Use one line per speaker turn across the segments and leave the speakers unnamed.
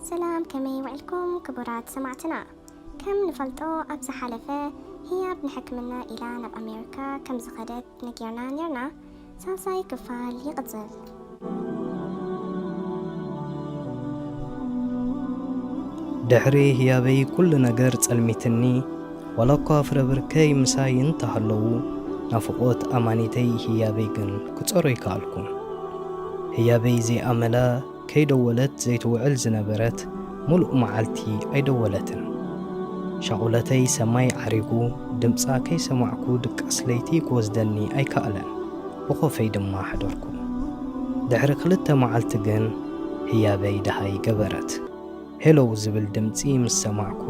ሰላም ከመይ ውዒልኩም ክቡራት ሰማዕትና ከም ንፈልጦ ኣብ ዝሓለፈ ህያብ ንሕክምና ኢላ ናብ ኣሜሪካ ከም ዝኸደት ነጊርና ኔርና ሳልሳይ ክፋል ይቕጽል
ድሕሪ ህያበይ ኩሉ ነገር ጸልሚትኒ ዋላኳ ፍረብርከይ ምሳይ እንተ ሃለዉ፣ ናፍቖት ኣማኒተይ ህያበይ ግን ክጸሮ ኣይከኣልኩን። ህያበይ ዘይኣመላ ከይደወለት ዘይትውዕል ዝነበረት ምሉእ መዓልቲ ኣይደወለትን። ሻቑለተይ ሰማይ ዓሪጉ፣ ድምጻ ከይሰማዕኩ ድቃስ ለይቲ ክወስደኒ ኣይከኣለን፣ ብኮፈይ ድማ ሓደርኩ። ድሕሪ ክልተ መዓልቲ ግን ህያበይ ደሃይ ገበረት። Hello ዝብል ድምጺ ምስ ሰማዕኩ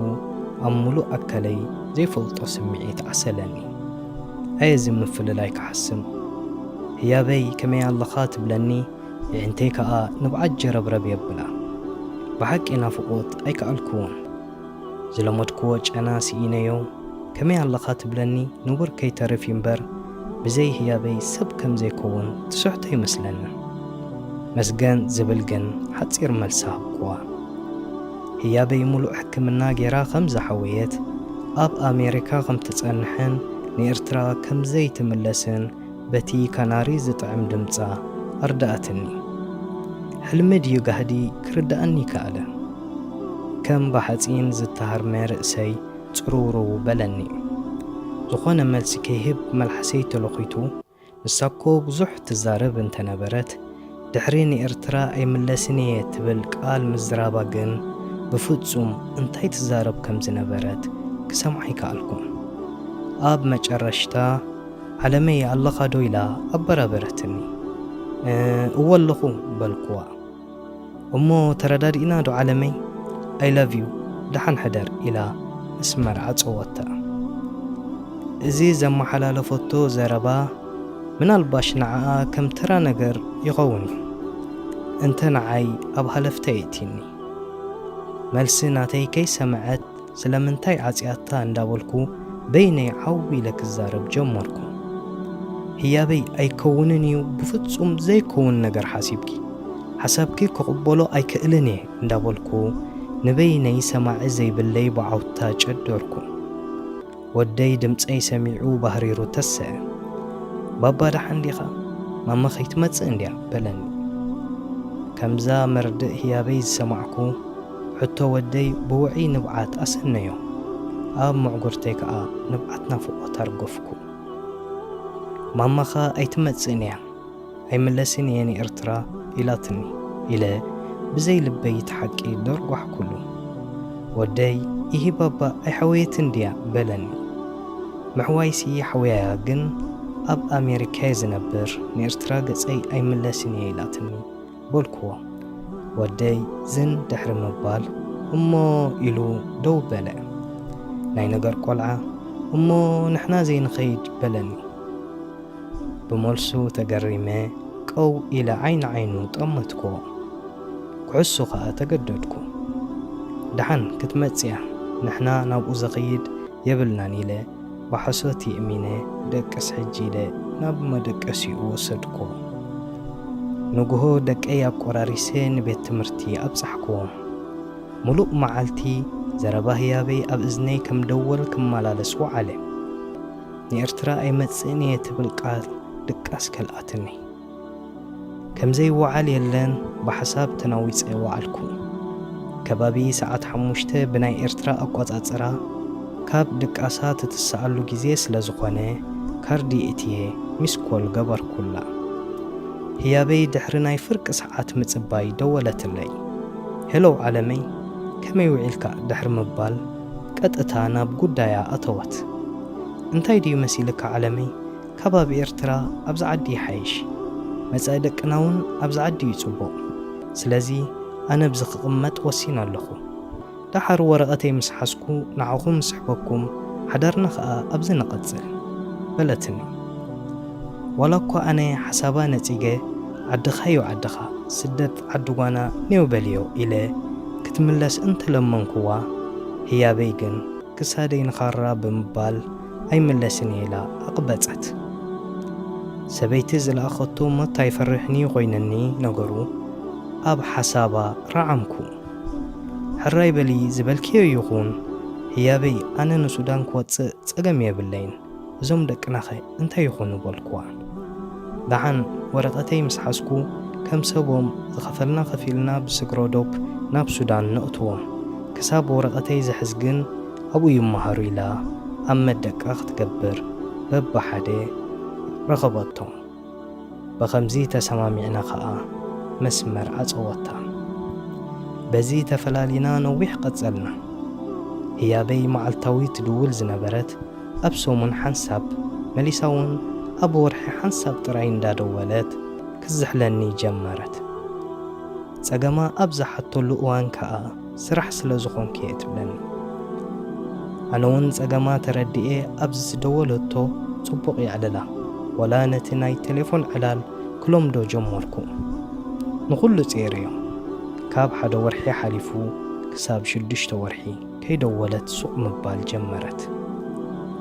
ኣብ ምሉእ ኣካለይ ዘይፈልጦ ስምዒት ዓሰለኒ። ኣየ እዚ ምፍልላይ ክሓስም! ህያበይ ከመይ ኣለኻ ትብለኒ የዒንተይ ከኣ ንብዓት ጀረብረብ የብላ። ብሓቂ ናፍቖት ኣይከኣልክዎን። ዝለመድክዎ ጨና ስኢነዮ ከመይ ኣለኻ ትብለኒ ንቡር ከይተርፍ እዩ'ምበር፣ ብዘይ ህያበይ ሰብ ከም ዘይከውን ትስሕቶ ይመስለኒ። መስገን ዝብል ግን ሓጺር መልሲ ሃብኩዋ። ህያበይ ምሉእ ሕክምና ገይራ ከም ዝሓወየት፣ ኣብ ኣሜሪካ ከም ትጸንሕን ንኤርትራ ከም ዘይትምለስን በቲ ካናሪ ዝጥዕም ድምጻ ኣርድኣትኒ። ሕልሚ ድዩ ጋህዲ ክርድኣኒ ከኣለ። ከም ብሓጺን ዝተሃርመ ርእሰይ፣ ጽርውርው በለኒ። ዝኾነ መልሲ ከይህብ መልሓሰይ ተሎኺቱ፣ ንሳኮ ብዙሕ ትዛረብ እንተነበረት፣ ድሕሪ ንኤርትራ ኣይምለስን ኢየ ትብል ቃል ምዝራባ ግን ብፍጹም እንታይ ትዛረብ ከም ዝነበረት ክሰምዓ ኣይከኣልኩን። ኣብ መጨረሽታ ዓለመይ ኣለኻዶ ኢላ ኣበራበረትኒ። እወ ኣለኹ በልኩዋ። እሞ ተረዳዲእና ዶ ዓለመይ ኣይ ላቭ ዩ ደሓን ሕደር ኢላ ምስ መርዓ ጸወታ። እዚ ዘመሓላለፈቶ ዘረባ ምናልባሽ ንዓኣ ከም ተራ ነገር ይኸውን ዩ እንተ ንዓይ ኣብ ሃለፍታ የእቲኒ መልሲ ናተይ ከይሰመዐት ስለምንታይ ዓጽያታ እንዳበልኩ በይነይ ዓው ኢለ ክዛረብ ጀመርኩ። ህያበይ ኣይከውንን እዩ ብፍጹም ዘይከውን ነገር ሓሲብኪ ሓሳብኪ ክቕበሎ ኣይክእልን እየ እንዳበልኩ ንበይነይ ሰማዒ ዘይብለይ ብዓውታ ጨደርኩ። ወደይ ድምጸይ ሰሚዑ ባህሪሩ ተሰኣ። ባባ ደሓን ዲኻ? ማማ ከይትመጽእ እንድያ በለኒ። ከምዛ መርድእ ህያበይ ዝሰማዕኩ ሕቶ ወደይ ብውዑይ ንብዓት ኣሰነዮ። ኣብ ምዕጉርተይ ከኣ ንብዓት ናፍቖት ኣርገፍኩ። ማማኻ ኣይትመጽእን'ያ። ኣይምለስን እየ ንኤርትራ ኢላትኒ ኢለ ብዘይ ልበይ እቲ ሓቂ ደርጓሕኩሉ። ወደይ ኢሂ ባባ ኣይሓወየትን ድያ? በለኒ። ምሕዋይሲ ሓውያያ ግን ኣብ ኣሜሪካ'የ ዝነብር ንኤርትራ ገጸይ ኣይምለስን እየ ኢላትኒ በልኩዎ። ወደይ ዝን ድሕሪ ምባል እሞ ኢሉ ደው በለ። ናይ ነገር ቆልዓ እሞ ንሕና ዘይንኸይድ በለኒ። ብመልሱ ተገሪመ ቀው ኢለ ዓይኒ ዓይኑ ጠመትኩዎ። ክሕሱ ከኣ ተገደድኩ። ደሓን ክትመጽያ ንሕና ናብኡ ዘኽይድ የብልናን ኢለ ብሓሶት የእሚነ ደቅስ ሕጂ ኢለ ናብ መደቀሲኡ ወሰድኩዎ። ንግሆ ደቀይ ኣቆራሪሰ ንቤት ትምህርቲ ኣብጻሕኩዎም። ምሉእ መዓልቲ ዘረባ ህያበይ ኣብ እዝነይ ከም ደወል ክመላለስ ወዓለ። ንኤርትራ ኣይመጽእን እየ ትብል ቃል ድቃስ ከልኣትኒ። ከም ዘይወዓል የለን ብሓሳብ ተናዊጸ ወዓልኩ። ከባቢ ሰዓት ሓሙሽተ ብናይ ኤርትራ ኣቆጻጽራ ካብ ድቃሳ ትትስኣሉ ግዜ ስለ ዝኾነ ካርድ የእትየ ሚስ ኮል ገበርኩላ። ህያበይ ድሕሪ ናይ ፍርቂ ሰዓት ምጽባይ ደወለትለይ። ሄሎ ዓለመይ ከመይ ውዒልካ ድሕሪ ምባል፣ ቀጥታ ናብ ጉዳያ ኣተወት። እንታይ ድዩ መሲልካ ዓለመይ ካብ ኣብ ኤርትራ ኣብዚ ዓዲ ይሓይሽ። መጻኢ ደቅናውን ኣብዚ ዓዲ'ዩ ጽቡቕ። ስለዚ ኣነ ኣብዚ ክቕመጥ ወሲነ ኣለኹ። ደሓር ወረቐተይ ምስ ሓዝኩ ንዓኹም እስሕበኩም ሓዳርና ከኣ ኣብዚ ንቐጽል። በለትኒ። ዋላኳ ኣነ ሓሳባ ነጺገ ዓድኻ'ዩ ዓድኻ፣ ስደት። ዓዲ ጓና ኔው በልዮ ኢለ ክትምለስ እንተ ለመንኩዋ፣ ህያበይ ግን ክሳደይ ንኻራ ብምባል ኣይምለስን'የ ኢላ ኣቕበጸት። ሰበይቲ ዝለኣኸቶ ሞት ኣይፈርሕን'ዩ ኮይንኒ ነገሩ፣ ኣብ ሓሳባ ረዓምኩ። ሕራይ በሊ ዝበልክዮ ይኹን ህያበይ፣ ኣነ ንሱዳን ክወጽእ ጸገም የብለይን። እዞም ደቅናኸ እንታይ ይኾኑ በልኩዋ። ደሓን ወረቐተይ ምስ ሓዝኩ ከም ሰቦም ዝኸፈልና ከፊልና ብስግሮ ዶብ ናብ ሱዳን ነእትዎም። ክሳብ ወረቐተይ ዝሕዝ ግን ኣብኡ ይመሃሩ ኢላ ኣብ መደቀ ክትገብር በብሓደ ረኸበቶም። ብኸምዚ ተሰማሚዕና ከኣ መስመር ኣጸወታ። በዚ ተፈላሊና ነዊሕ ቀጸልና። ህያበይ መዓልታዊ ትድውል ዝነበረት ኣብ ሰሙን ሓንሳብ መሊሳ ውን ኣብ ወርሒ ሓንሳብ ጥራይ እንዳደወለት ክትዝሕለኒ ጀመረት። ጸገማ ኣብ ዝሓተሉ እዋን ከኣ፣ ስራሕ ስለ ዝኾንኪ'የ ትብለኒ። ኣነ'ውን ጸገማ ተረዲኤ ኣብ ዝደወለቶ ጽቡቕ የዕልላ፣ ዋላ ነቲ ናይ ቴሌፎን ዕላል ክለምዶ ጀመርኩ። ንኹሉ ጼሬዮ፣ ካብ ሓደ ወርሒ ሓሊፉ ክሳብ ሽዱሽተ ወርሒ ከይደወለት ሱቕ ምባል ጀመረት።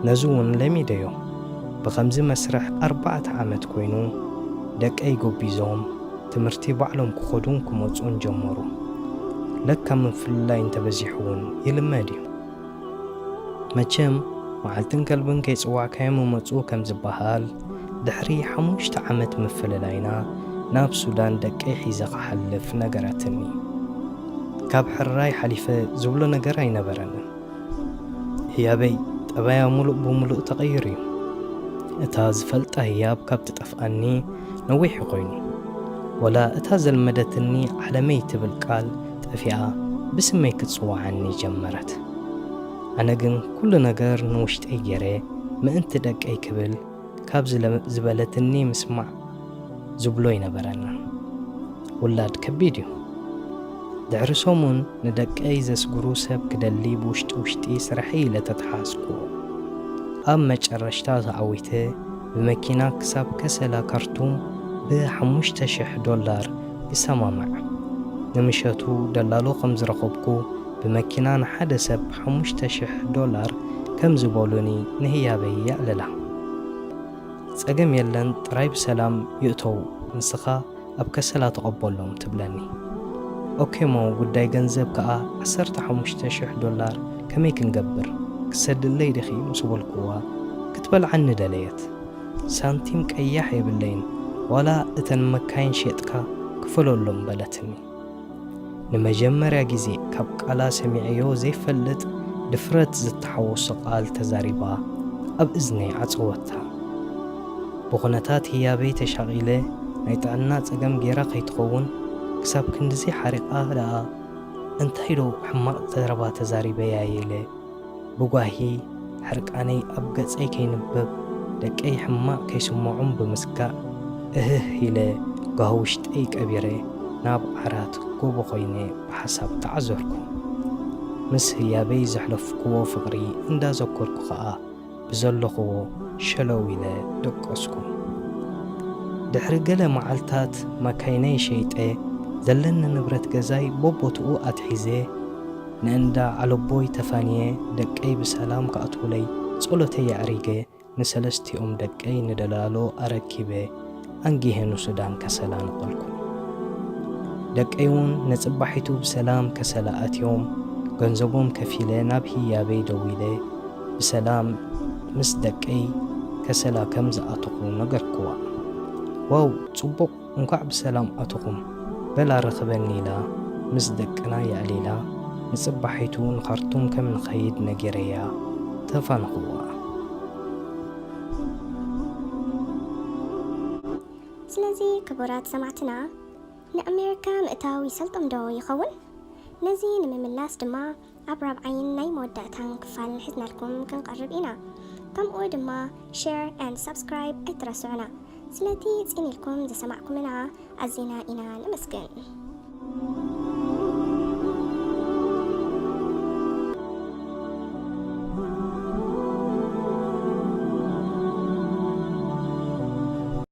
ነዚ'ውን ለሚደዮ፣ ብኸምዚ መስርሕ ኣርባዕተ ዓመት ኮይኑ ደቀይ ጎቢዞም፣ ትምህርቲ ባዕሎም ክኸዱን ክመጹን ጀመሩ። ለካ ምፍልላይ እንተበዚሑ'ውን ይልመድ እዩ። መቸም መዓልትን ከልብን ከይጽዋዕካዮም ይመጹ ከም ዝበሃል፣ ድሕሪ ሓሙሽተ ዓመት ምፍልላይና ናብ ሱዳን ደቀይ ሒዘ ክሓልፍ ነገረትኒ። ካብ ሕርራይ ሓሊፈ ዝብሎ ነገር ኣይነበረንን። ህያበይ ጠባያ ሙሉእ ብሙሉእ ተቐይሩ እዩ። እታ ዝፈልጣ ህያብ ካብ ትጠፍኣኒ ነዊሑ ኮይኑ። ወላ እታ ዘልመደትኒ ዓለመይ ትብል ቃል ጠፊኣ ብስመይ ክትጽውዓኒ ጀመረት። ኣነ ግን ኩሉ ነገር ንውሽጠይ ጌረ ምእንቲ ደቀይ ክብል፣ ካብዚ ዝበለትኒ ምስማዕ ዝብሎ ይነበረና ውላድ ከቢድ እዩ ድሕሪ ሰሙን ንደቀይ ዘስግሩ ሰብ ክደሊ ብውሽጢ ውሽጢ ስርሐይ ኢለ ተተሓዝኩዎ ኣብ መጨረሽታ ተዓዊተ ብመኪና ክሳብ ከሰላ ካርቱም ብሓሙሽተ ሽሕ ዶላር ይሰማማዕ ንምሸቱ ደላሎ ከምዝረኸብኩ ብመኪና ንሓደ ሰብ ሓሙሽተ ሽሕ ዶላር ከም ዝበሉኒ ንህያበይ የዕልላ። ጸገም የለን ጥራይ ብሰላም ይእተዉ ንስኻ ኣብ ከሰላ ተቐበሎም ትብለኒ። ኦኬ'ሞ ጉዳይ ገንዘብ ከኣ ዓሰርተ ሓሙሽተ ሽሕ ዶላር ከመይ ክንገብር ክትሰድለይ ዲኺ ምስ በልኩዋ ክትበልዓኒ ደለየት። ሳንቲም ቀያሕ የብለይን ዋላ እተን መካይን ሼጥካ ክፈለሎም በለትኒ። ንመጀመርያ ግዜ ካብ ቃላ ሰሚዐዮ ዘይፈልጥ ድፍረት ዝተሓወሶ ቃል ተዛሪባ ኣብ እዝነይ ዓጸወታ። ብኹነታት ህያበይ ተሻቒለ ናይ ጥዕና ጸገም ጌራ ከይትኸውን ክሳብ ክንድዚ ሓሪቓ ደኣ እንታይ ዶ ሕማቕ ዘረባ ተዛሪበያ'የ ኢለ። ብጓሂ ሕርቃነይ ኣብ ገጸይ ከይንበብ ደቀይ ሕማቕ ከይስምዖም ብምስጋእ እህህ ኢለ ጓሂ ውሽጠይ ቀቢረ ናብ ዓራት ጎቦ ኮይነ ብሓሳብ ተዓዘርኩ። ምስ ህያበይ ዘሕለፍኩዎ ፍቕሪ እንዳዘከርኩ ከኣ ብዘለኹዎ ሸለው ኢለ ደቀስኩ። ድሕሪ ገለ መዓልታት ማካይነይ ሸይጠ ዘለኒ ንብረት ገዛይ ቦቦትኡ ኣትሒዘ ንእንዳ ኣለቦይ ተፋንየ ደቀይ ብሰላም ክኣትዉለይ ጸሎተይ ኣዕሪገ ንሰለስቲኦም ደቀይ ንደላሎ ኣረኪበ ኣንጊሀ ንሱዳን ከሰላ ነቐልኩ። ደቀይ'ውን ንጽባሒቱ ብሰላም ከሰላ ኣትዮም ገንዘቦም ከፊለ ናብ ህያበይ ደዊለ ብሰላም ምስ ደቀይ ከሰላ ከም ዝኣተኹ ነገርክዋ። ዋው ጽቡቕ እንኳዕ ብሰላም ኣተኹም በላ ርኽበኒ ኢላ ምስ ደቅና የዕሊላ ንጽባሒቱ ንኻርቱም ከም ንኸይድ ነጊረያ ተፋነኹዋ።
ስለዚ ክቡራት ሰማዕትና ንኣሜሪካ ምእታው ይሰልጦም ዶ ይኸውን? ነዚ ንምምላስ ድማ ኣብ ራብዓይን ናይ መወዳእታን ክፋል ሒዝናልኩም ክንቀርብ ኢና። ከምኡ ድማ Share and Subscribe ኣይትረስዑና። ስለቲ ጽን ኢልኩም ዝሰማዕኩምና ኣዚና ኢና ነመስግን።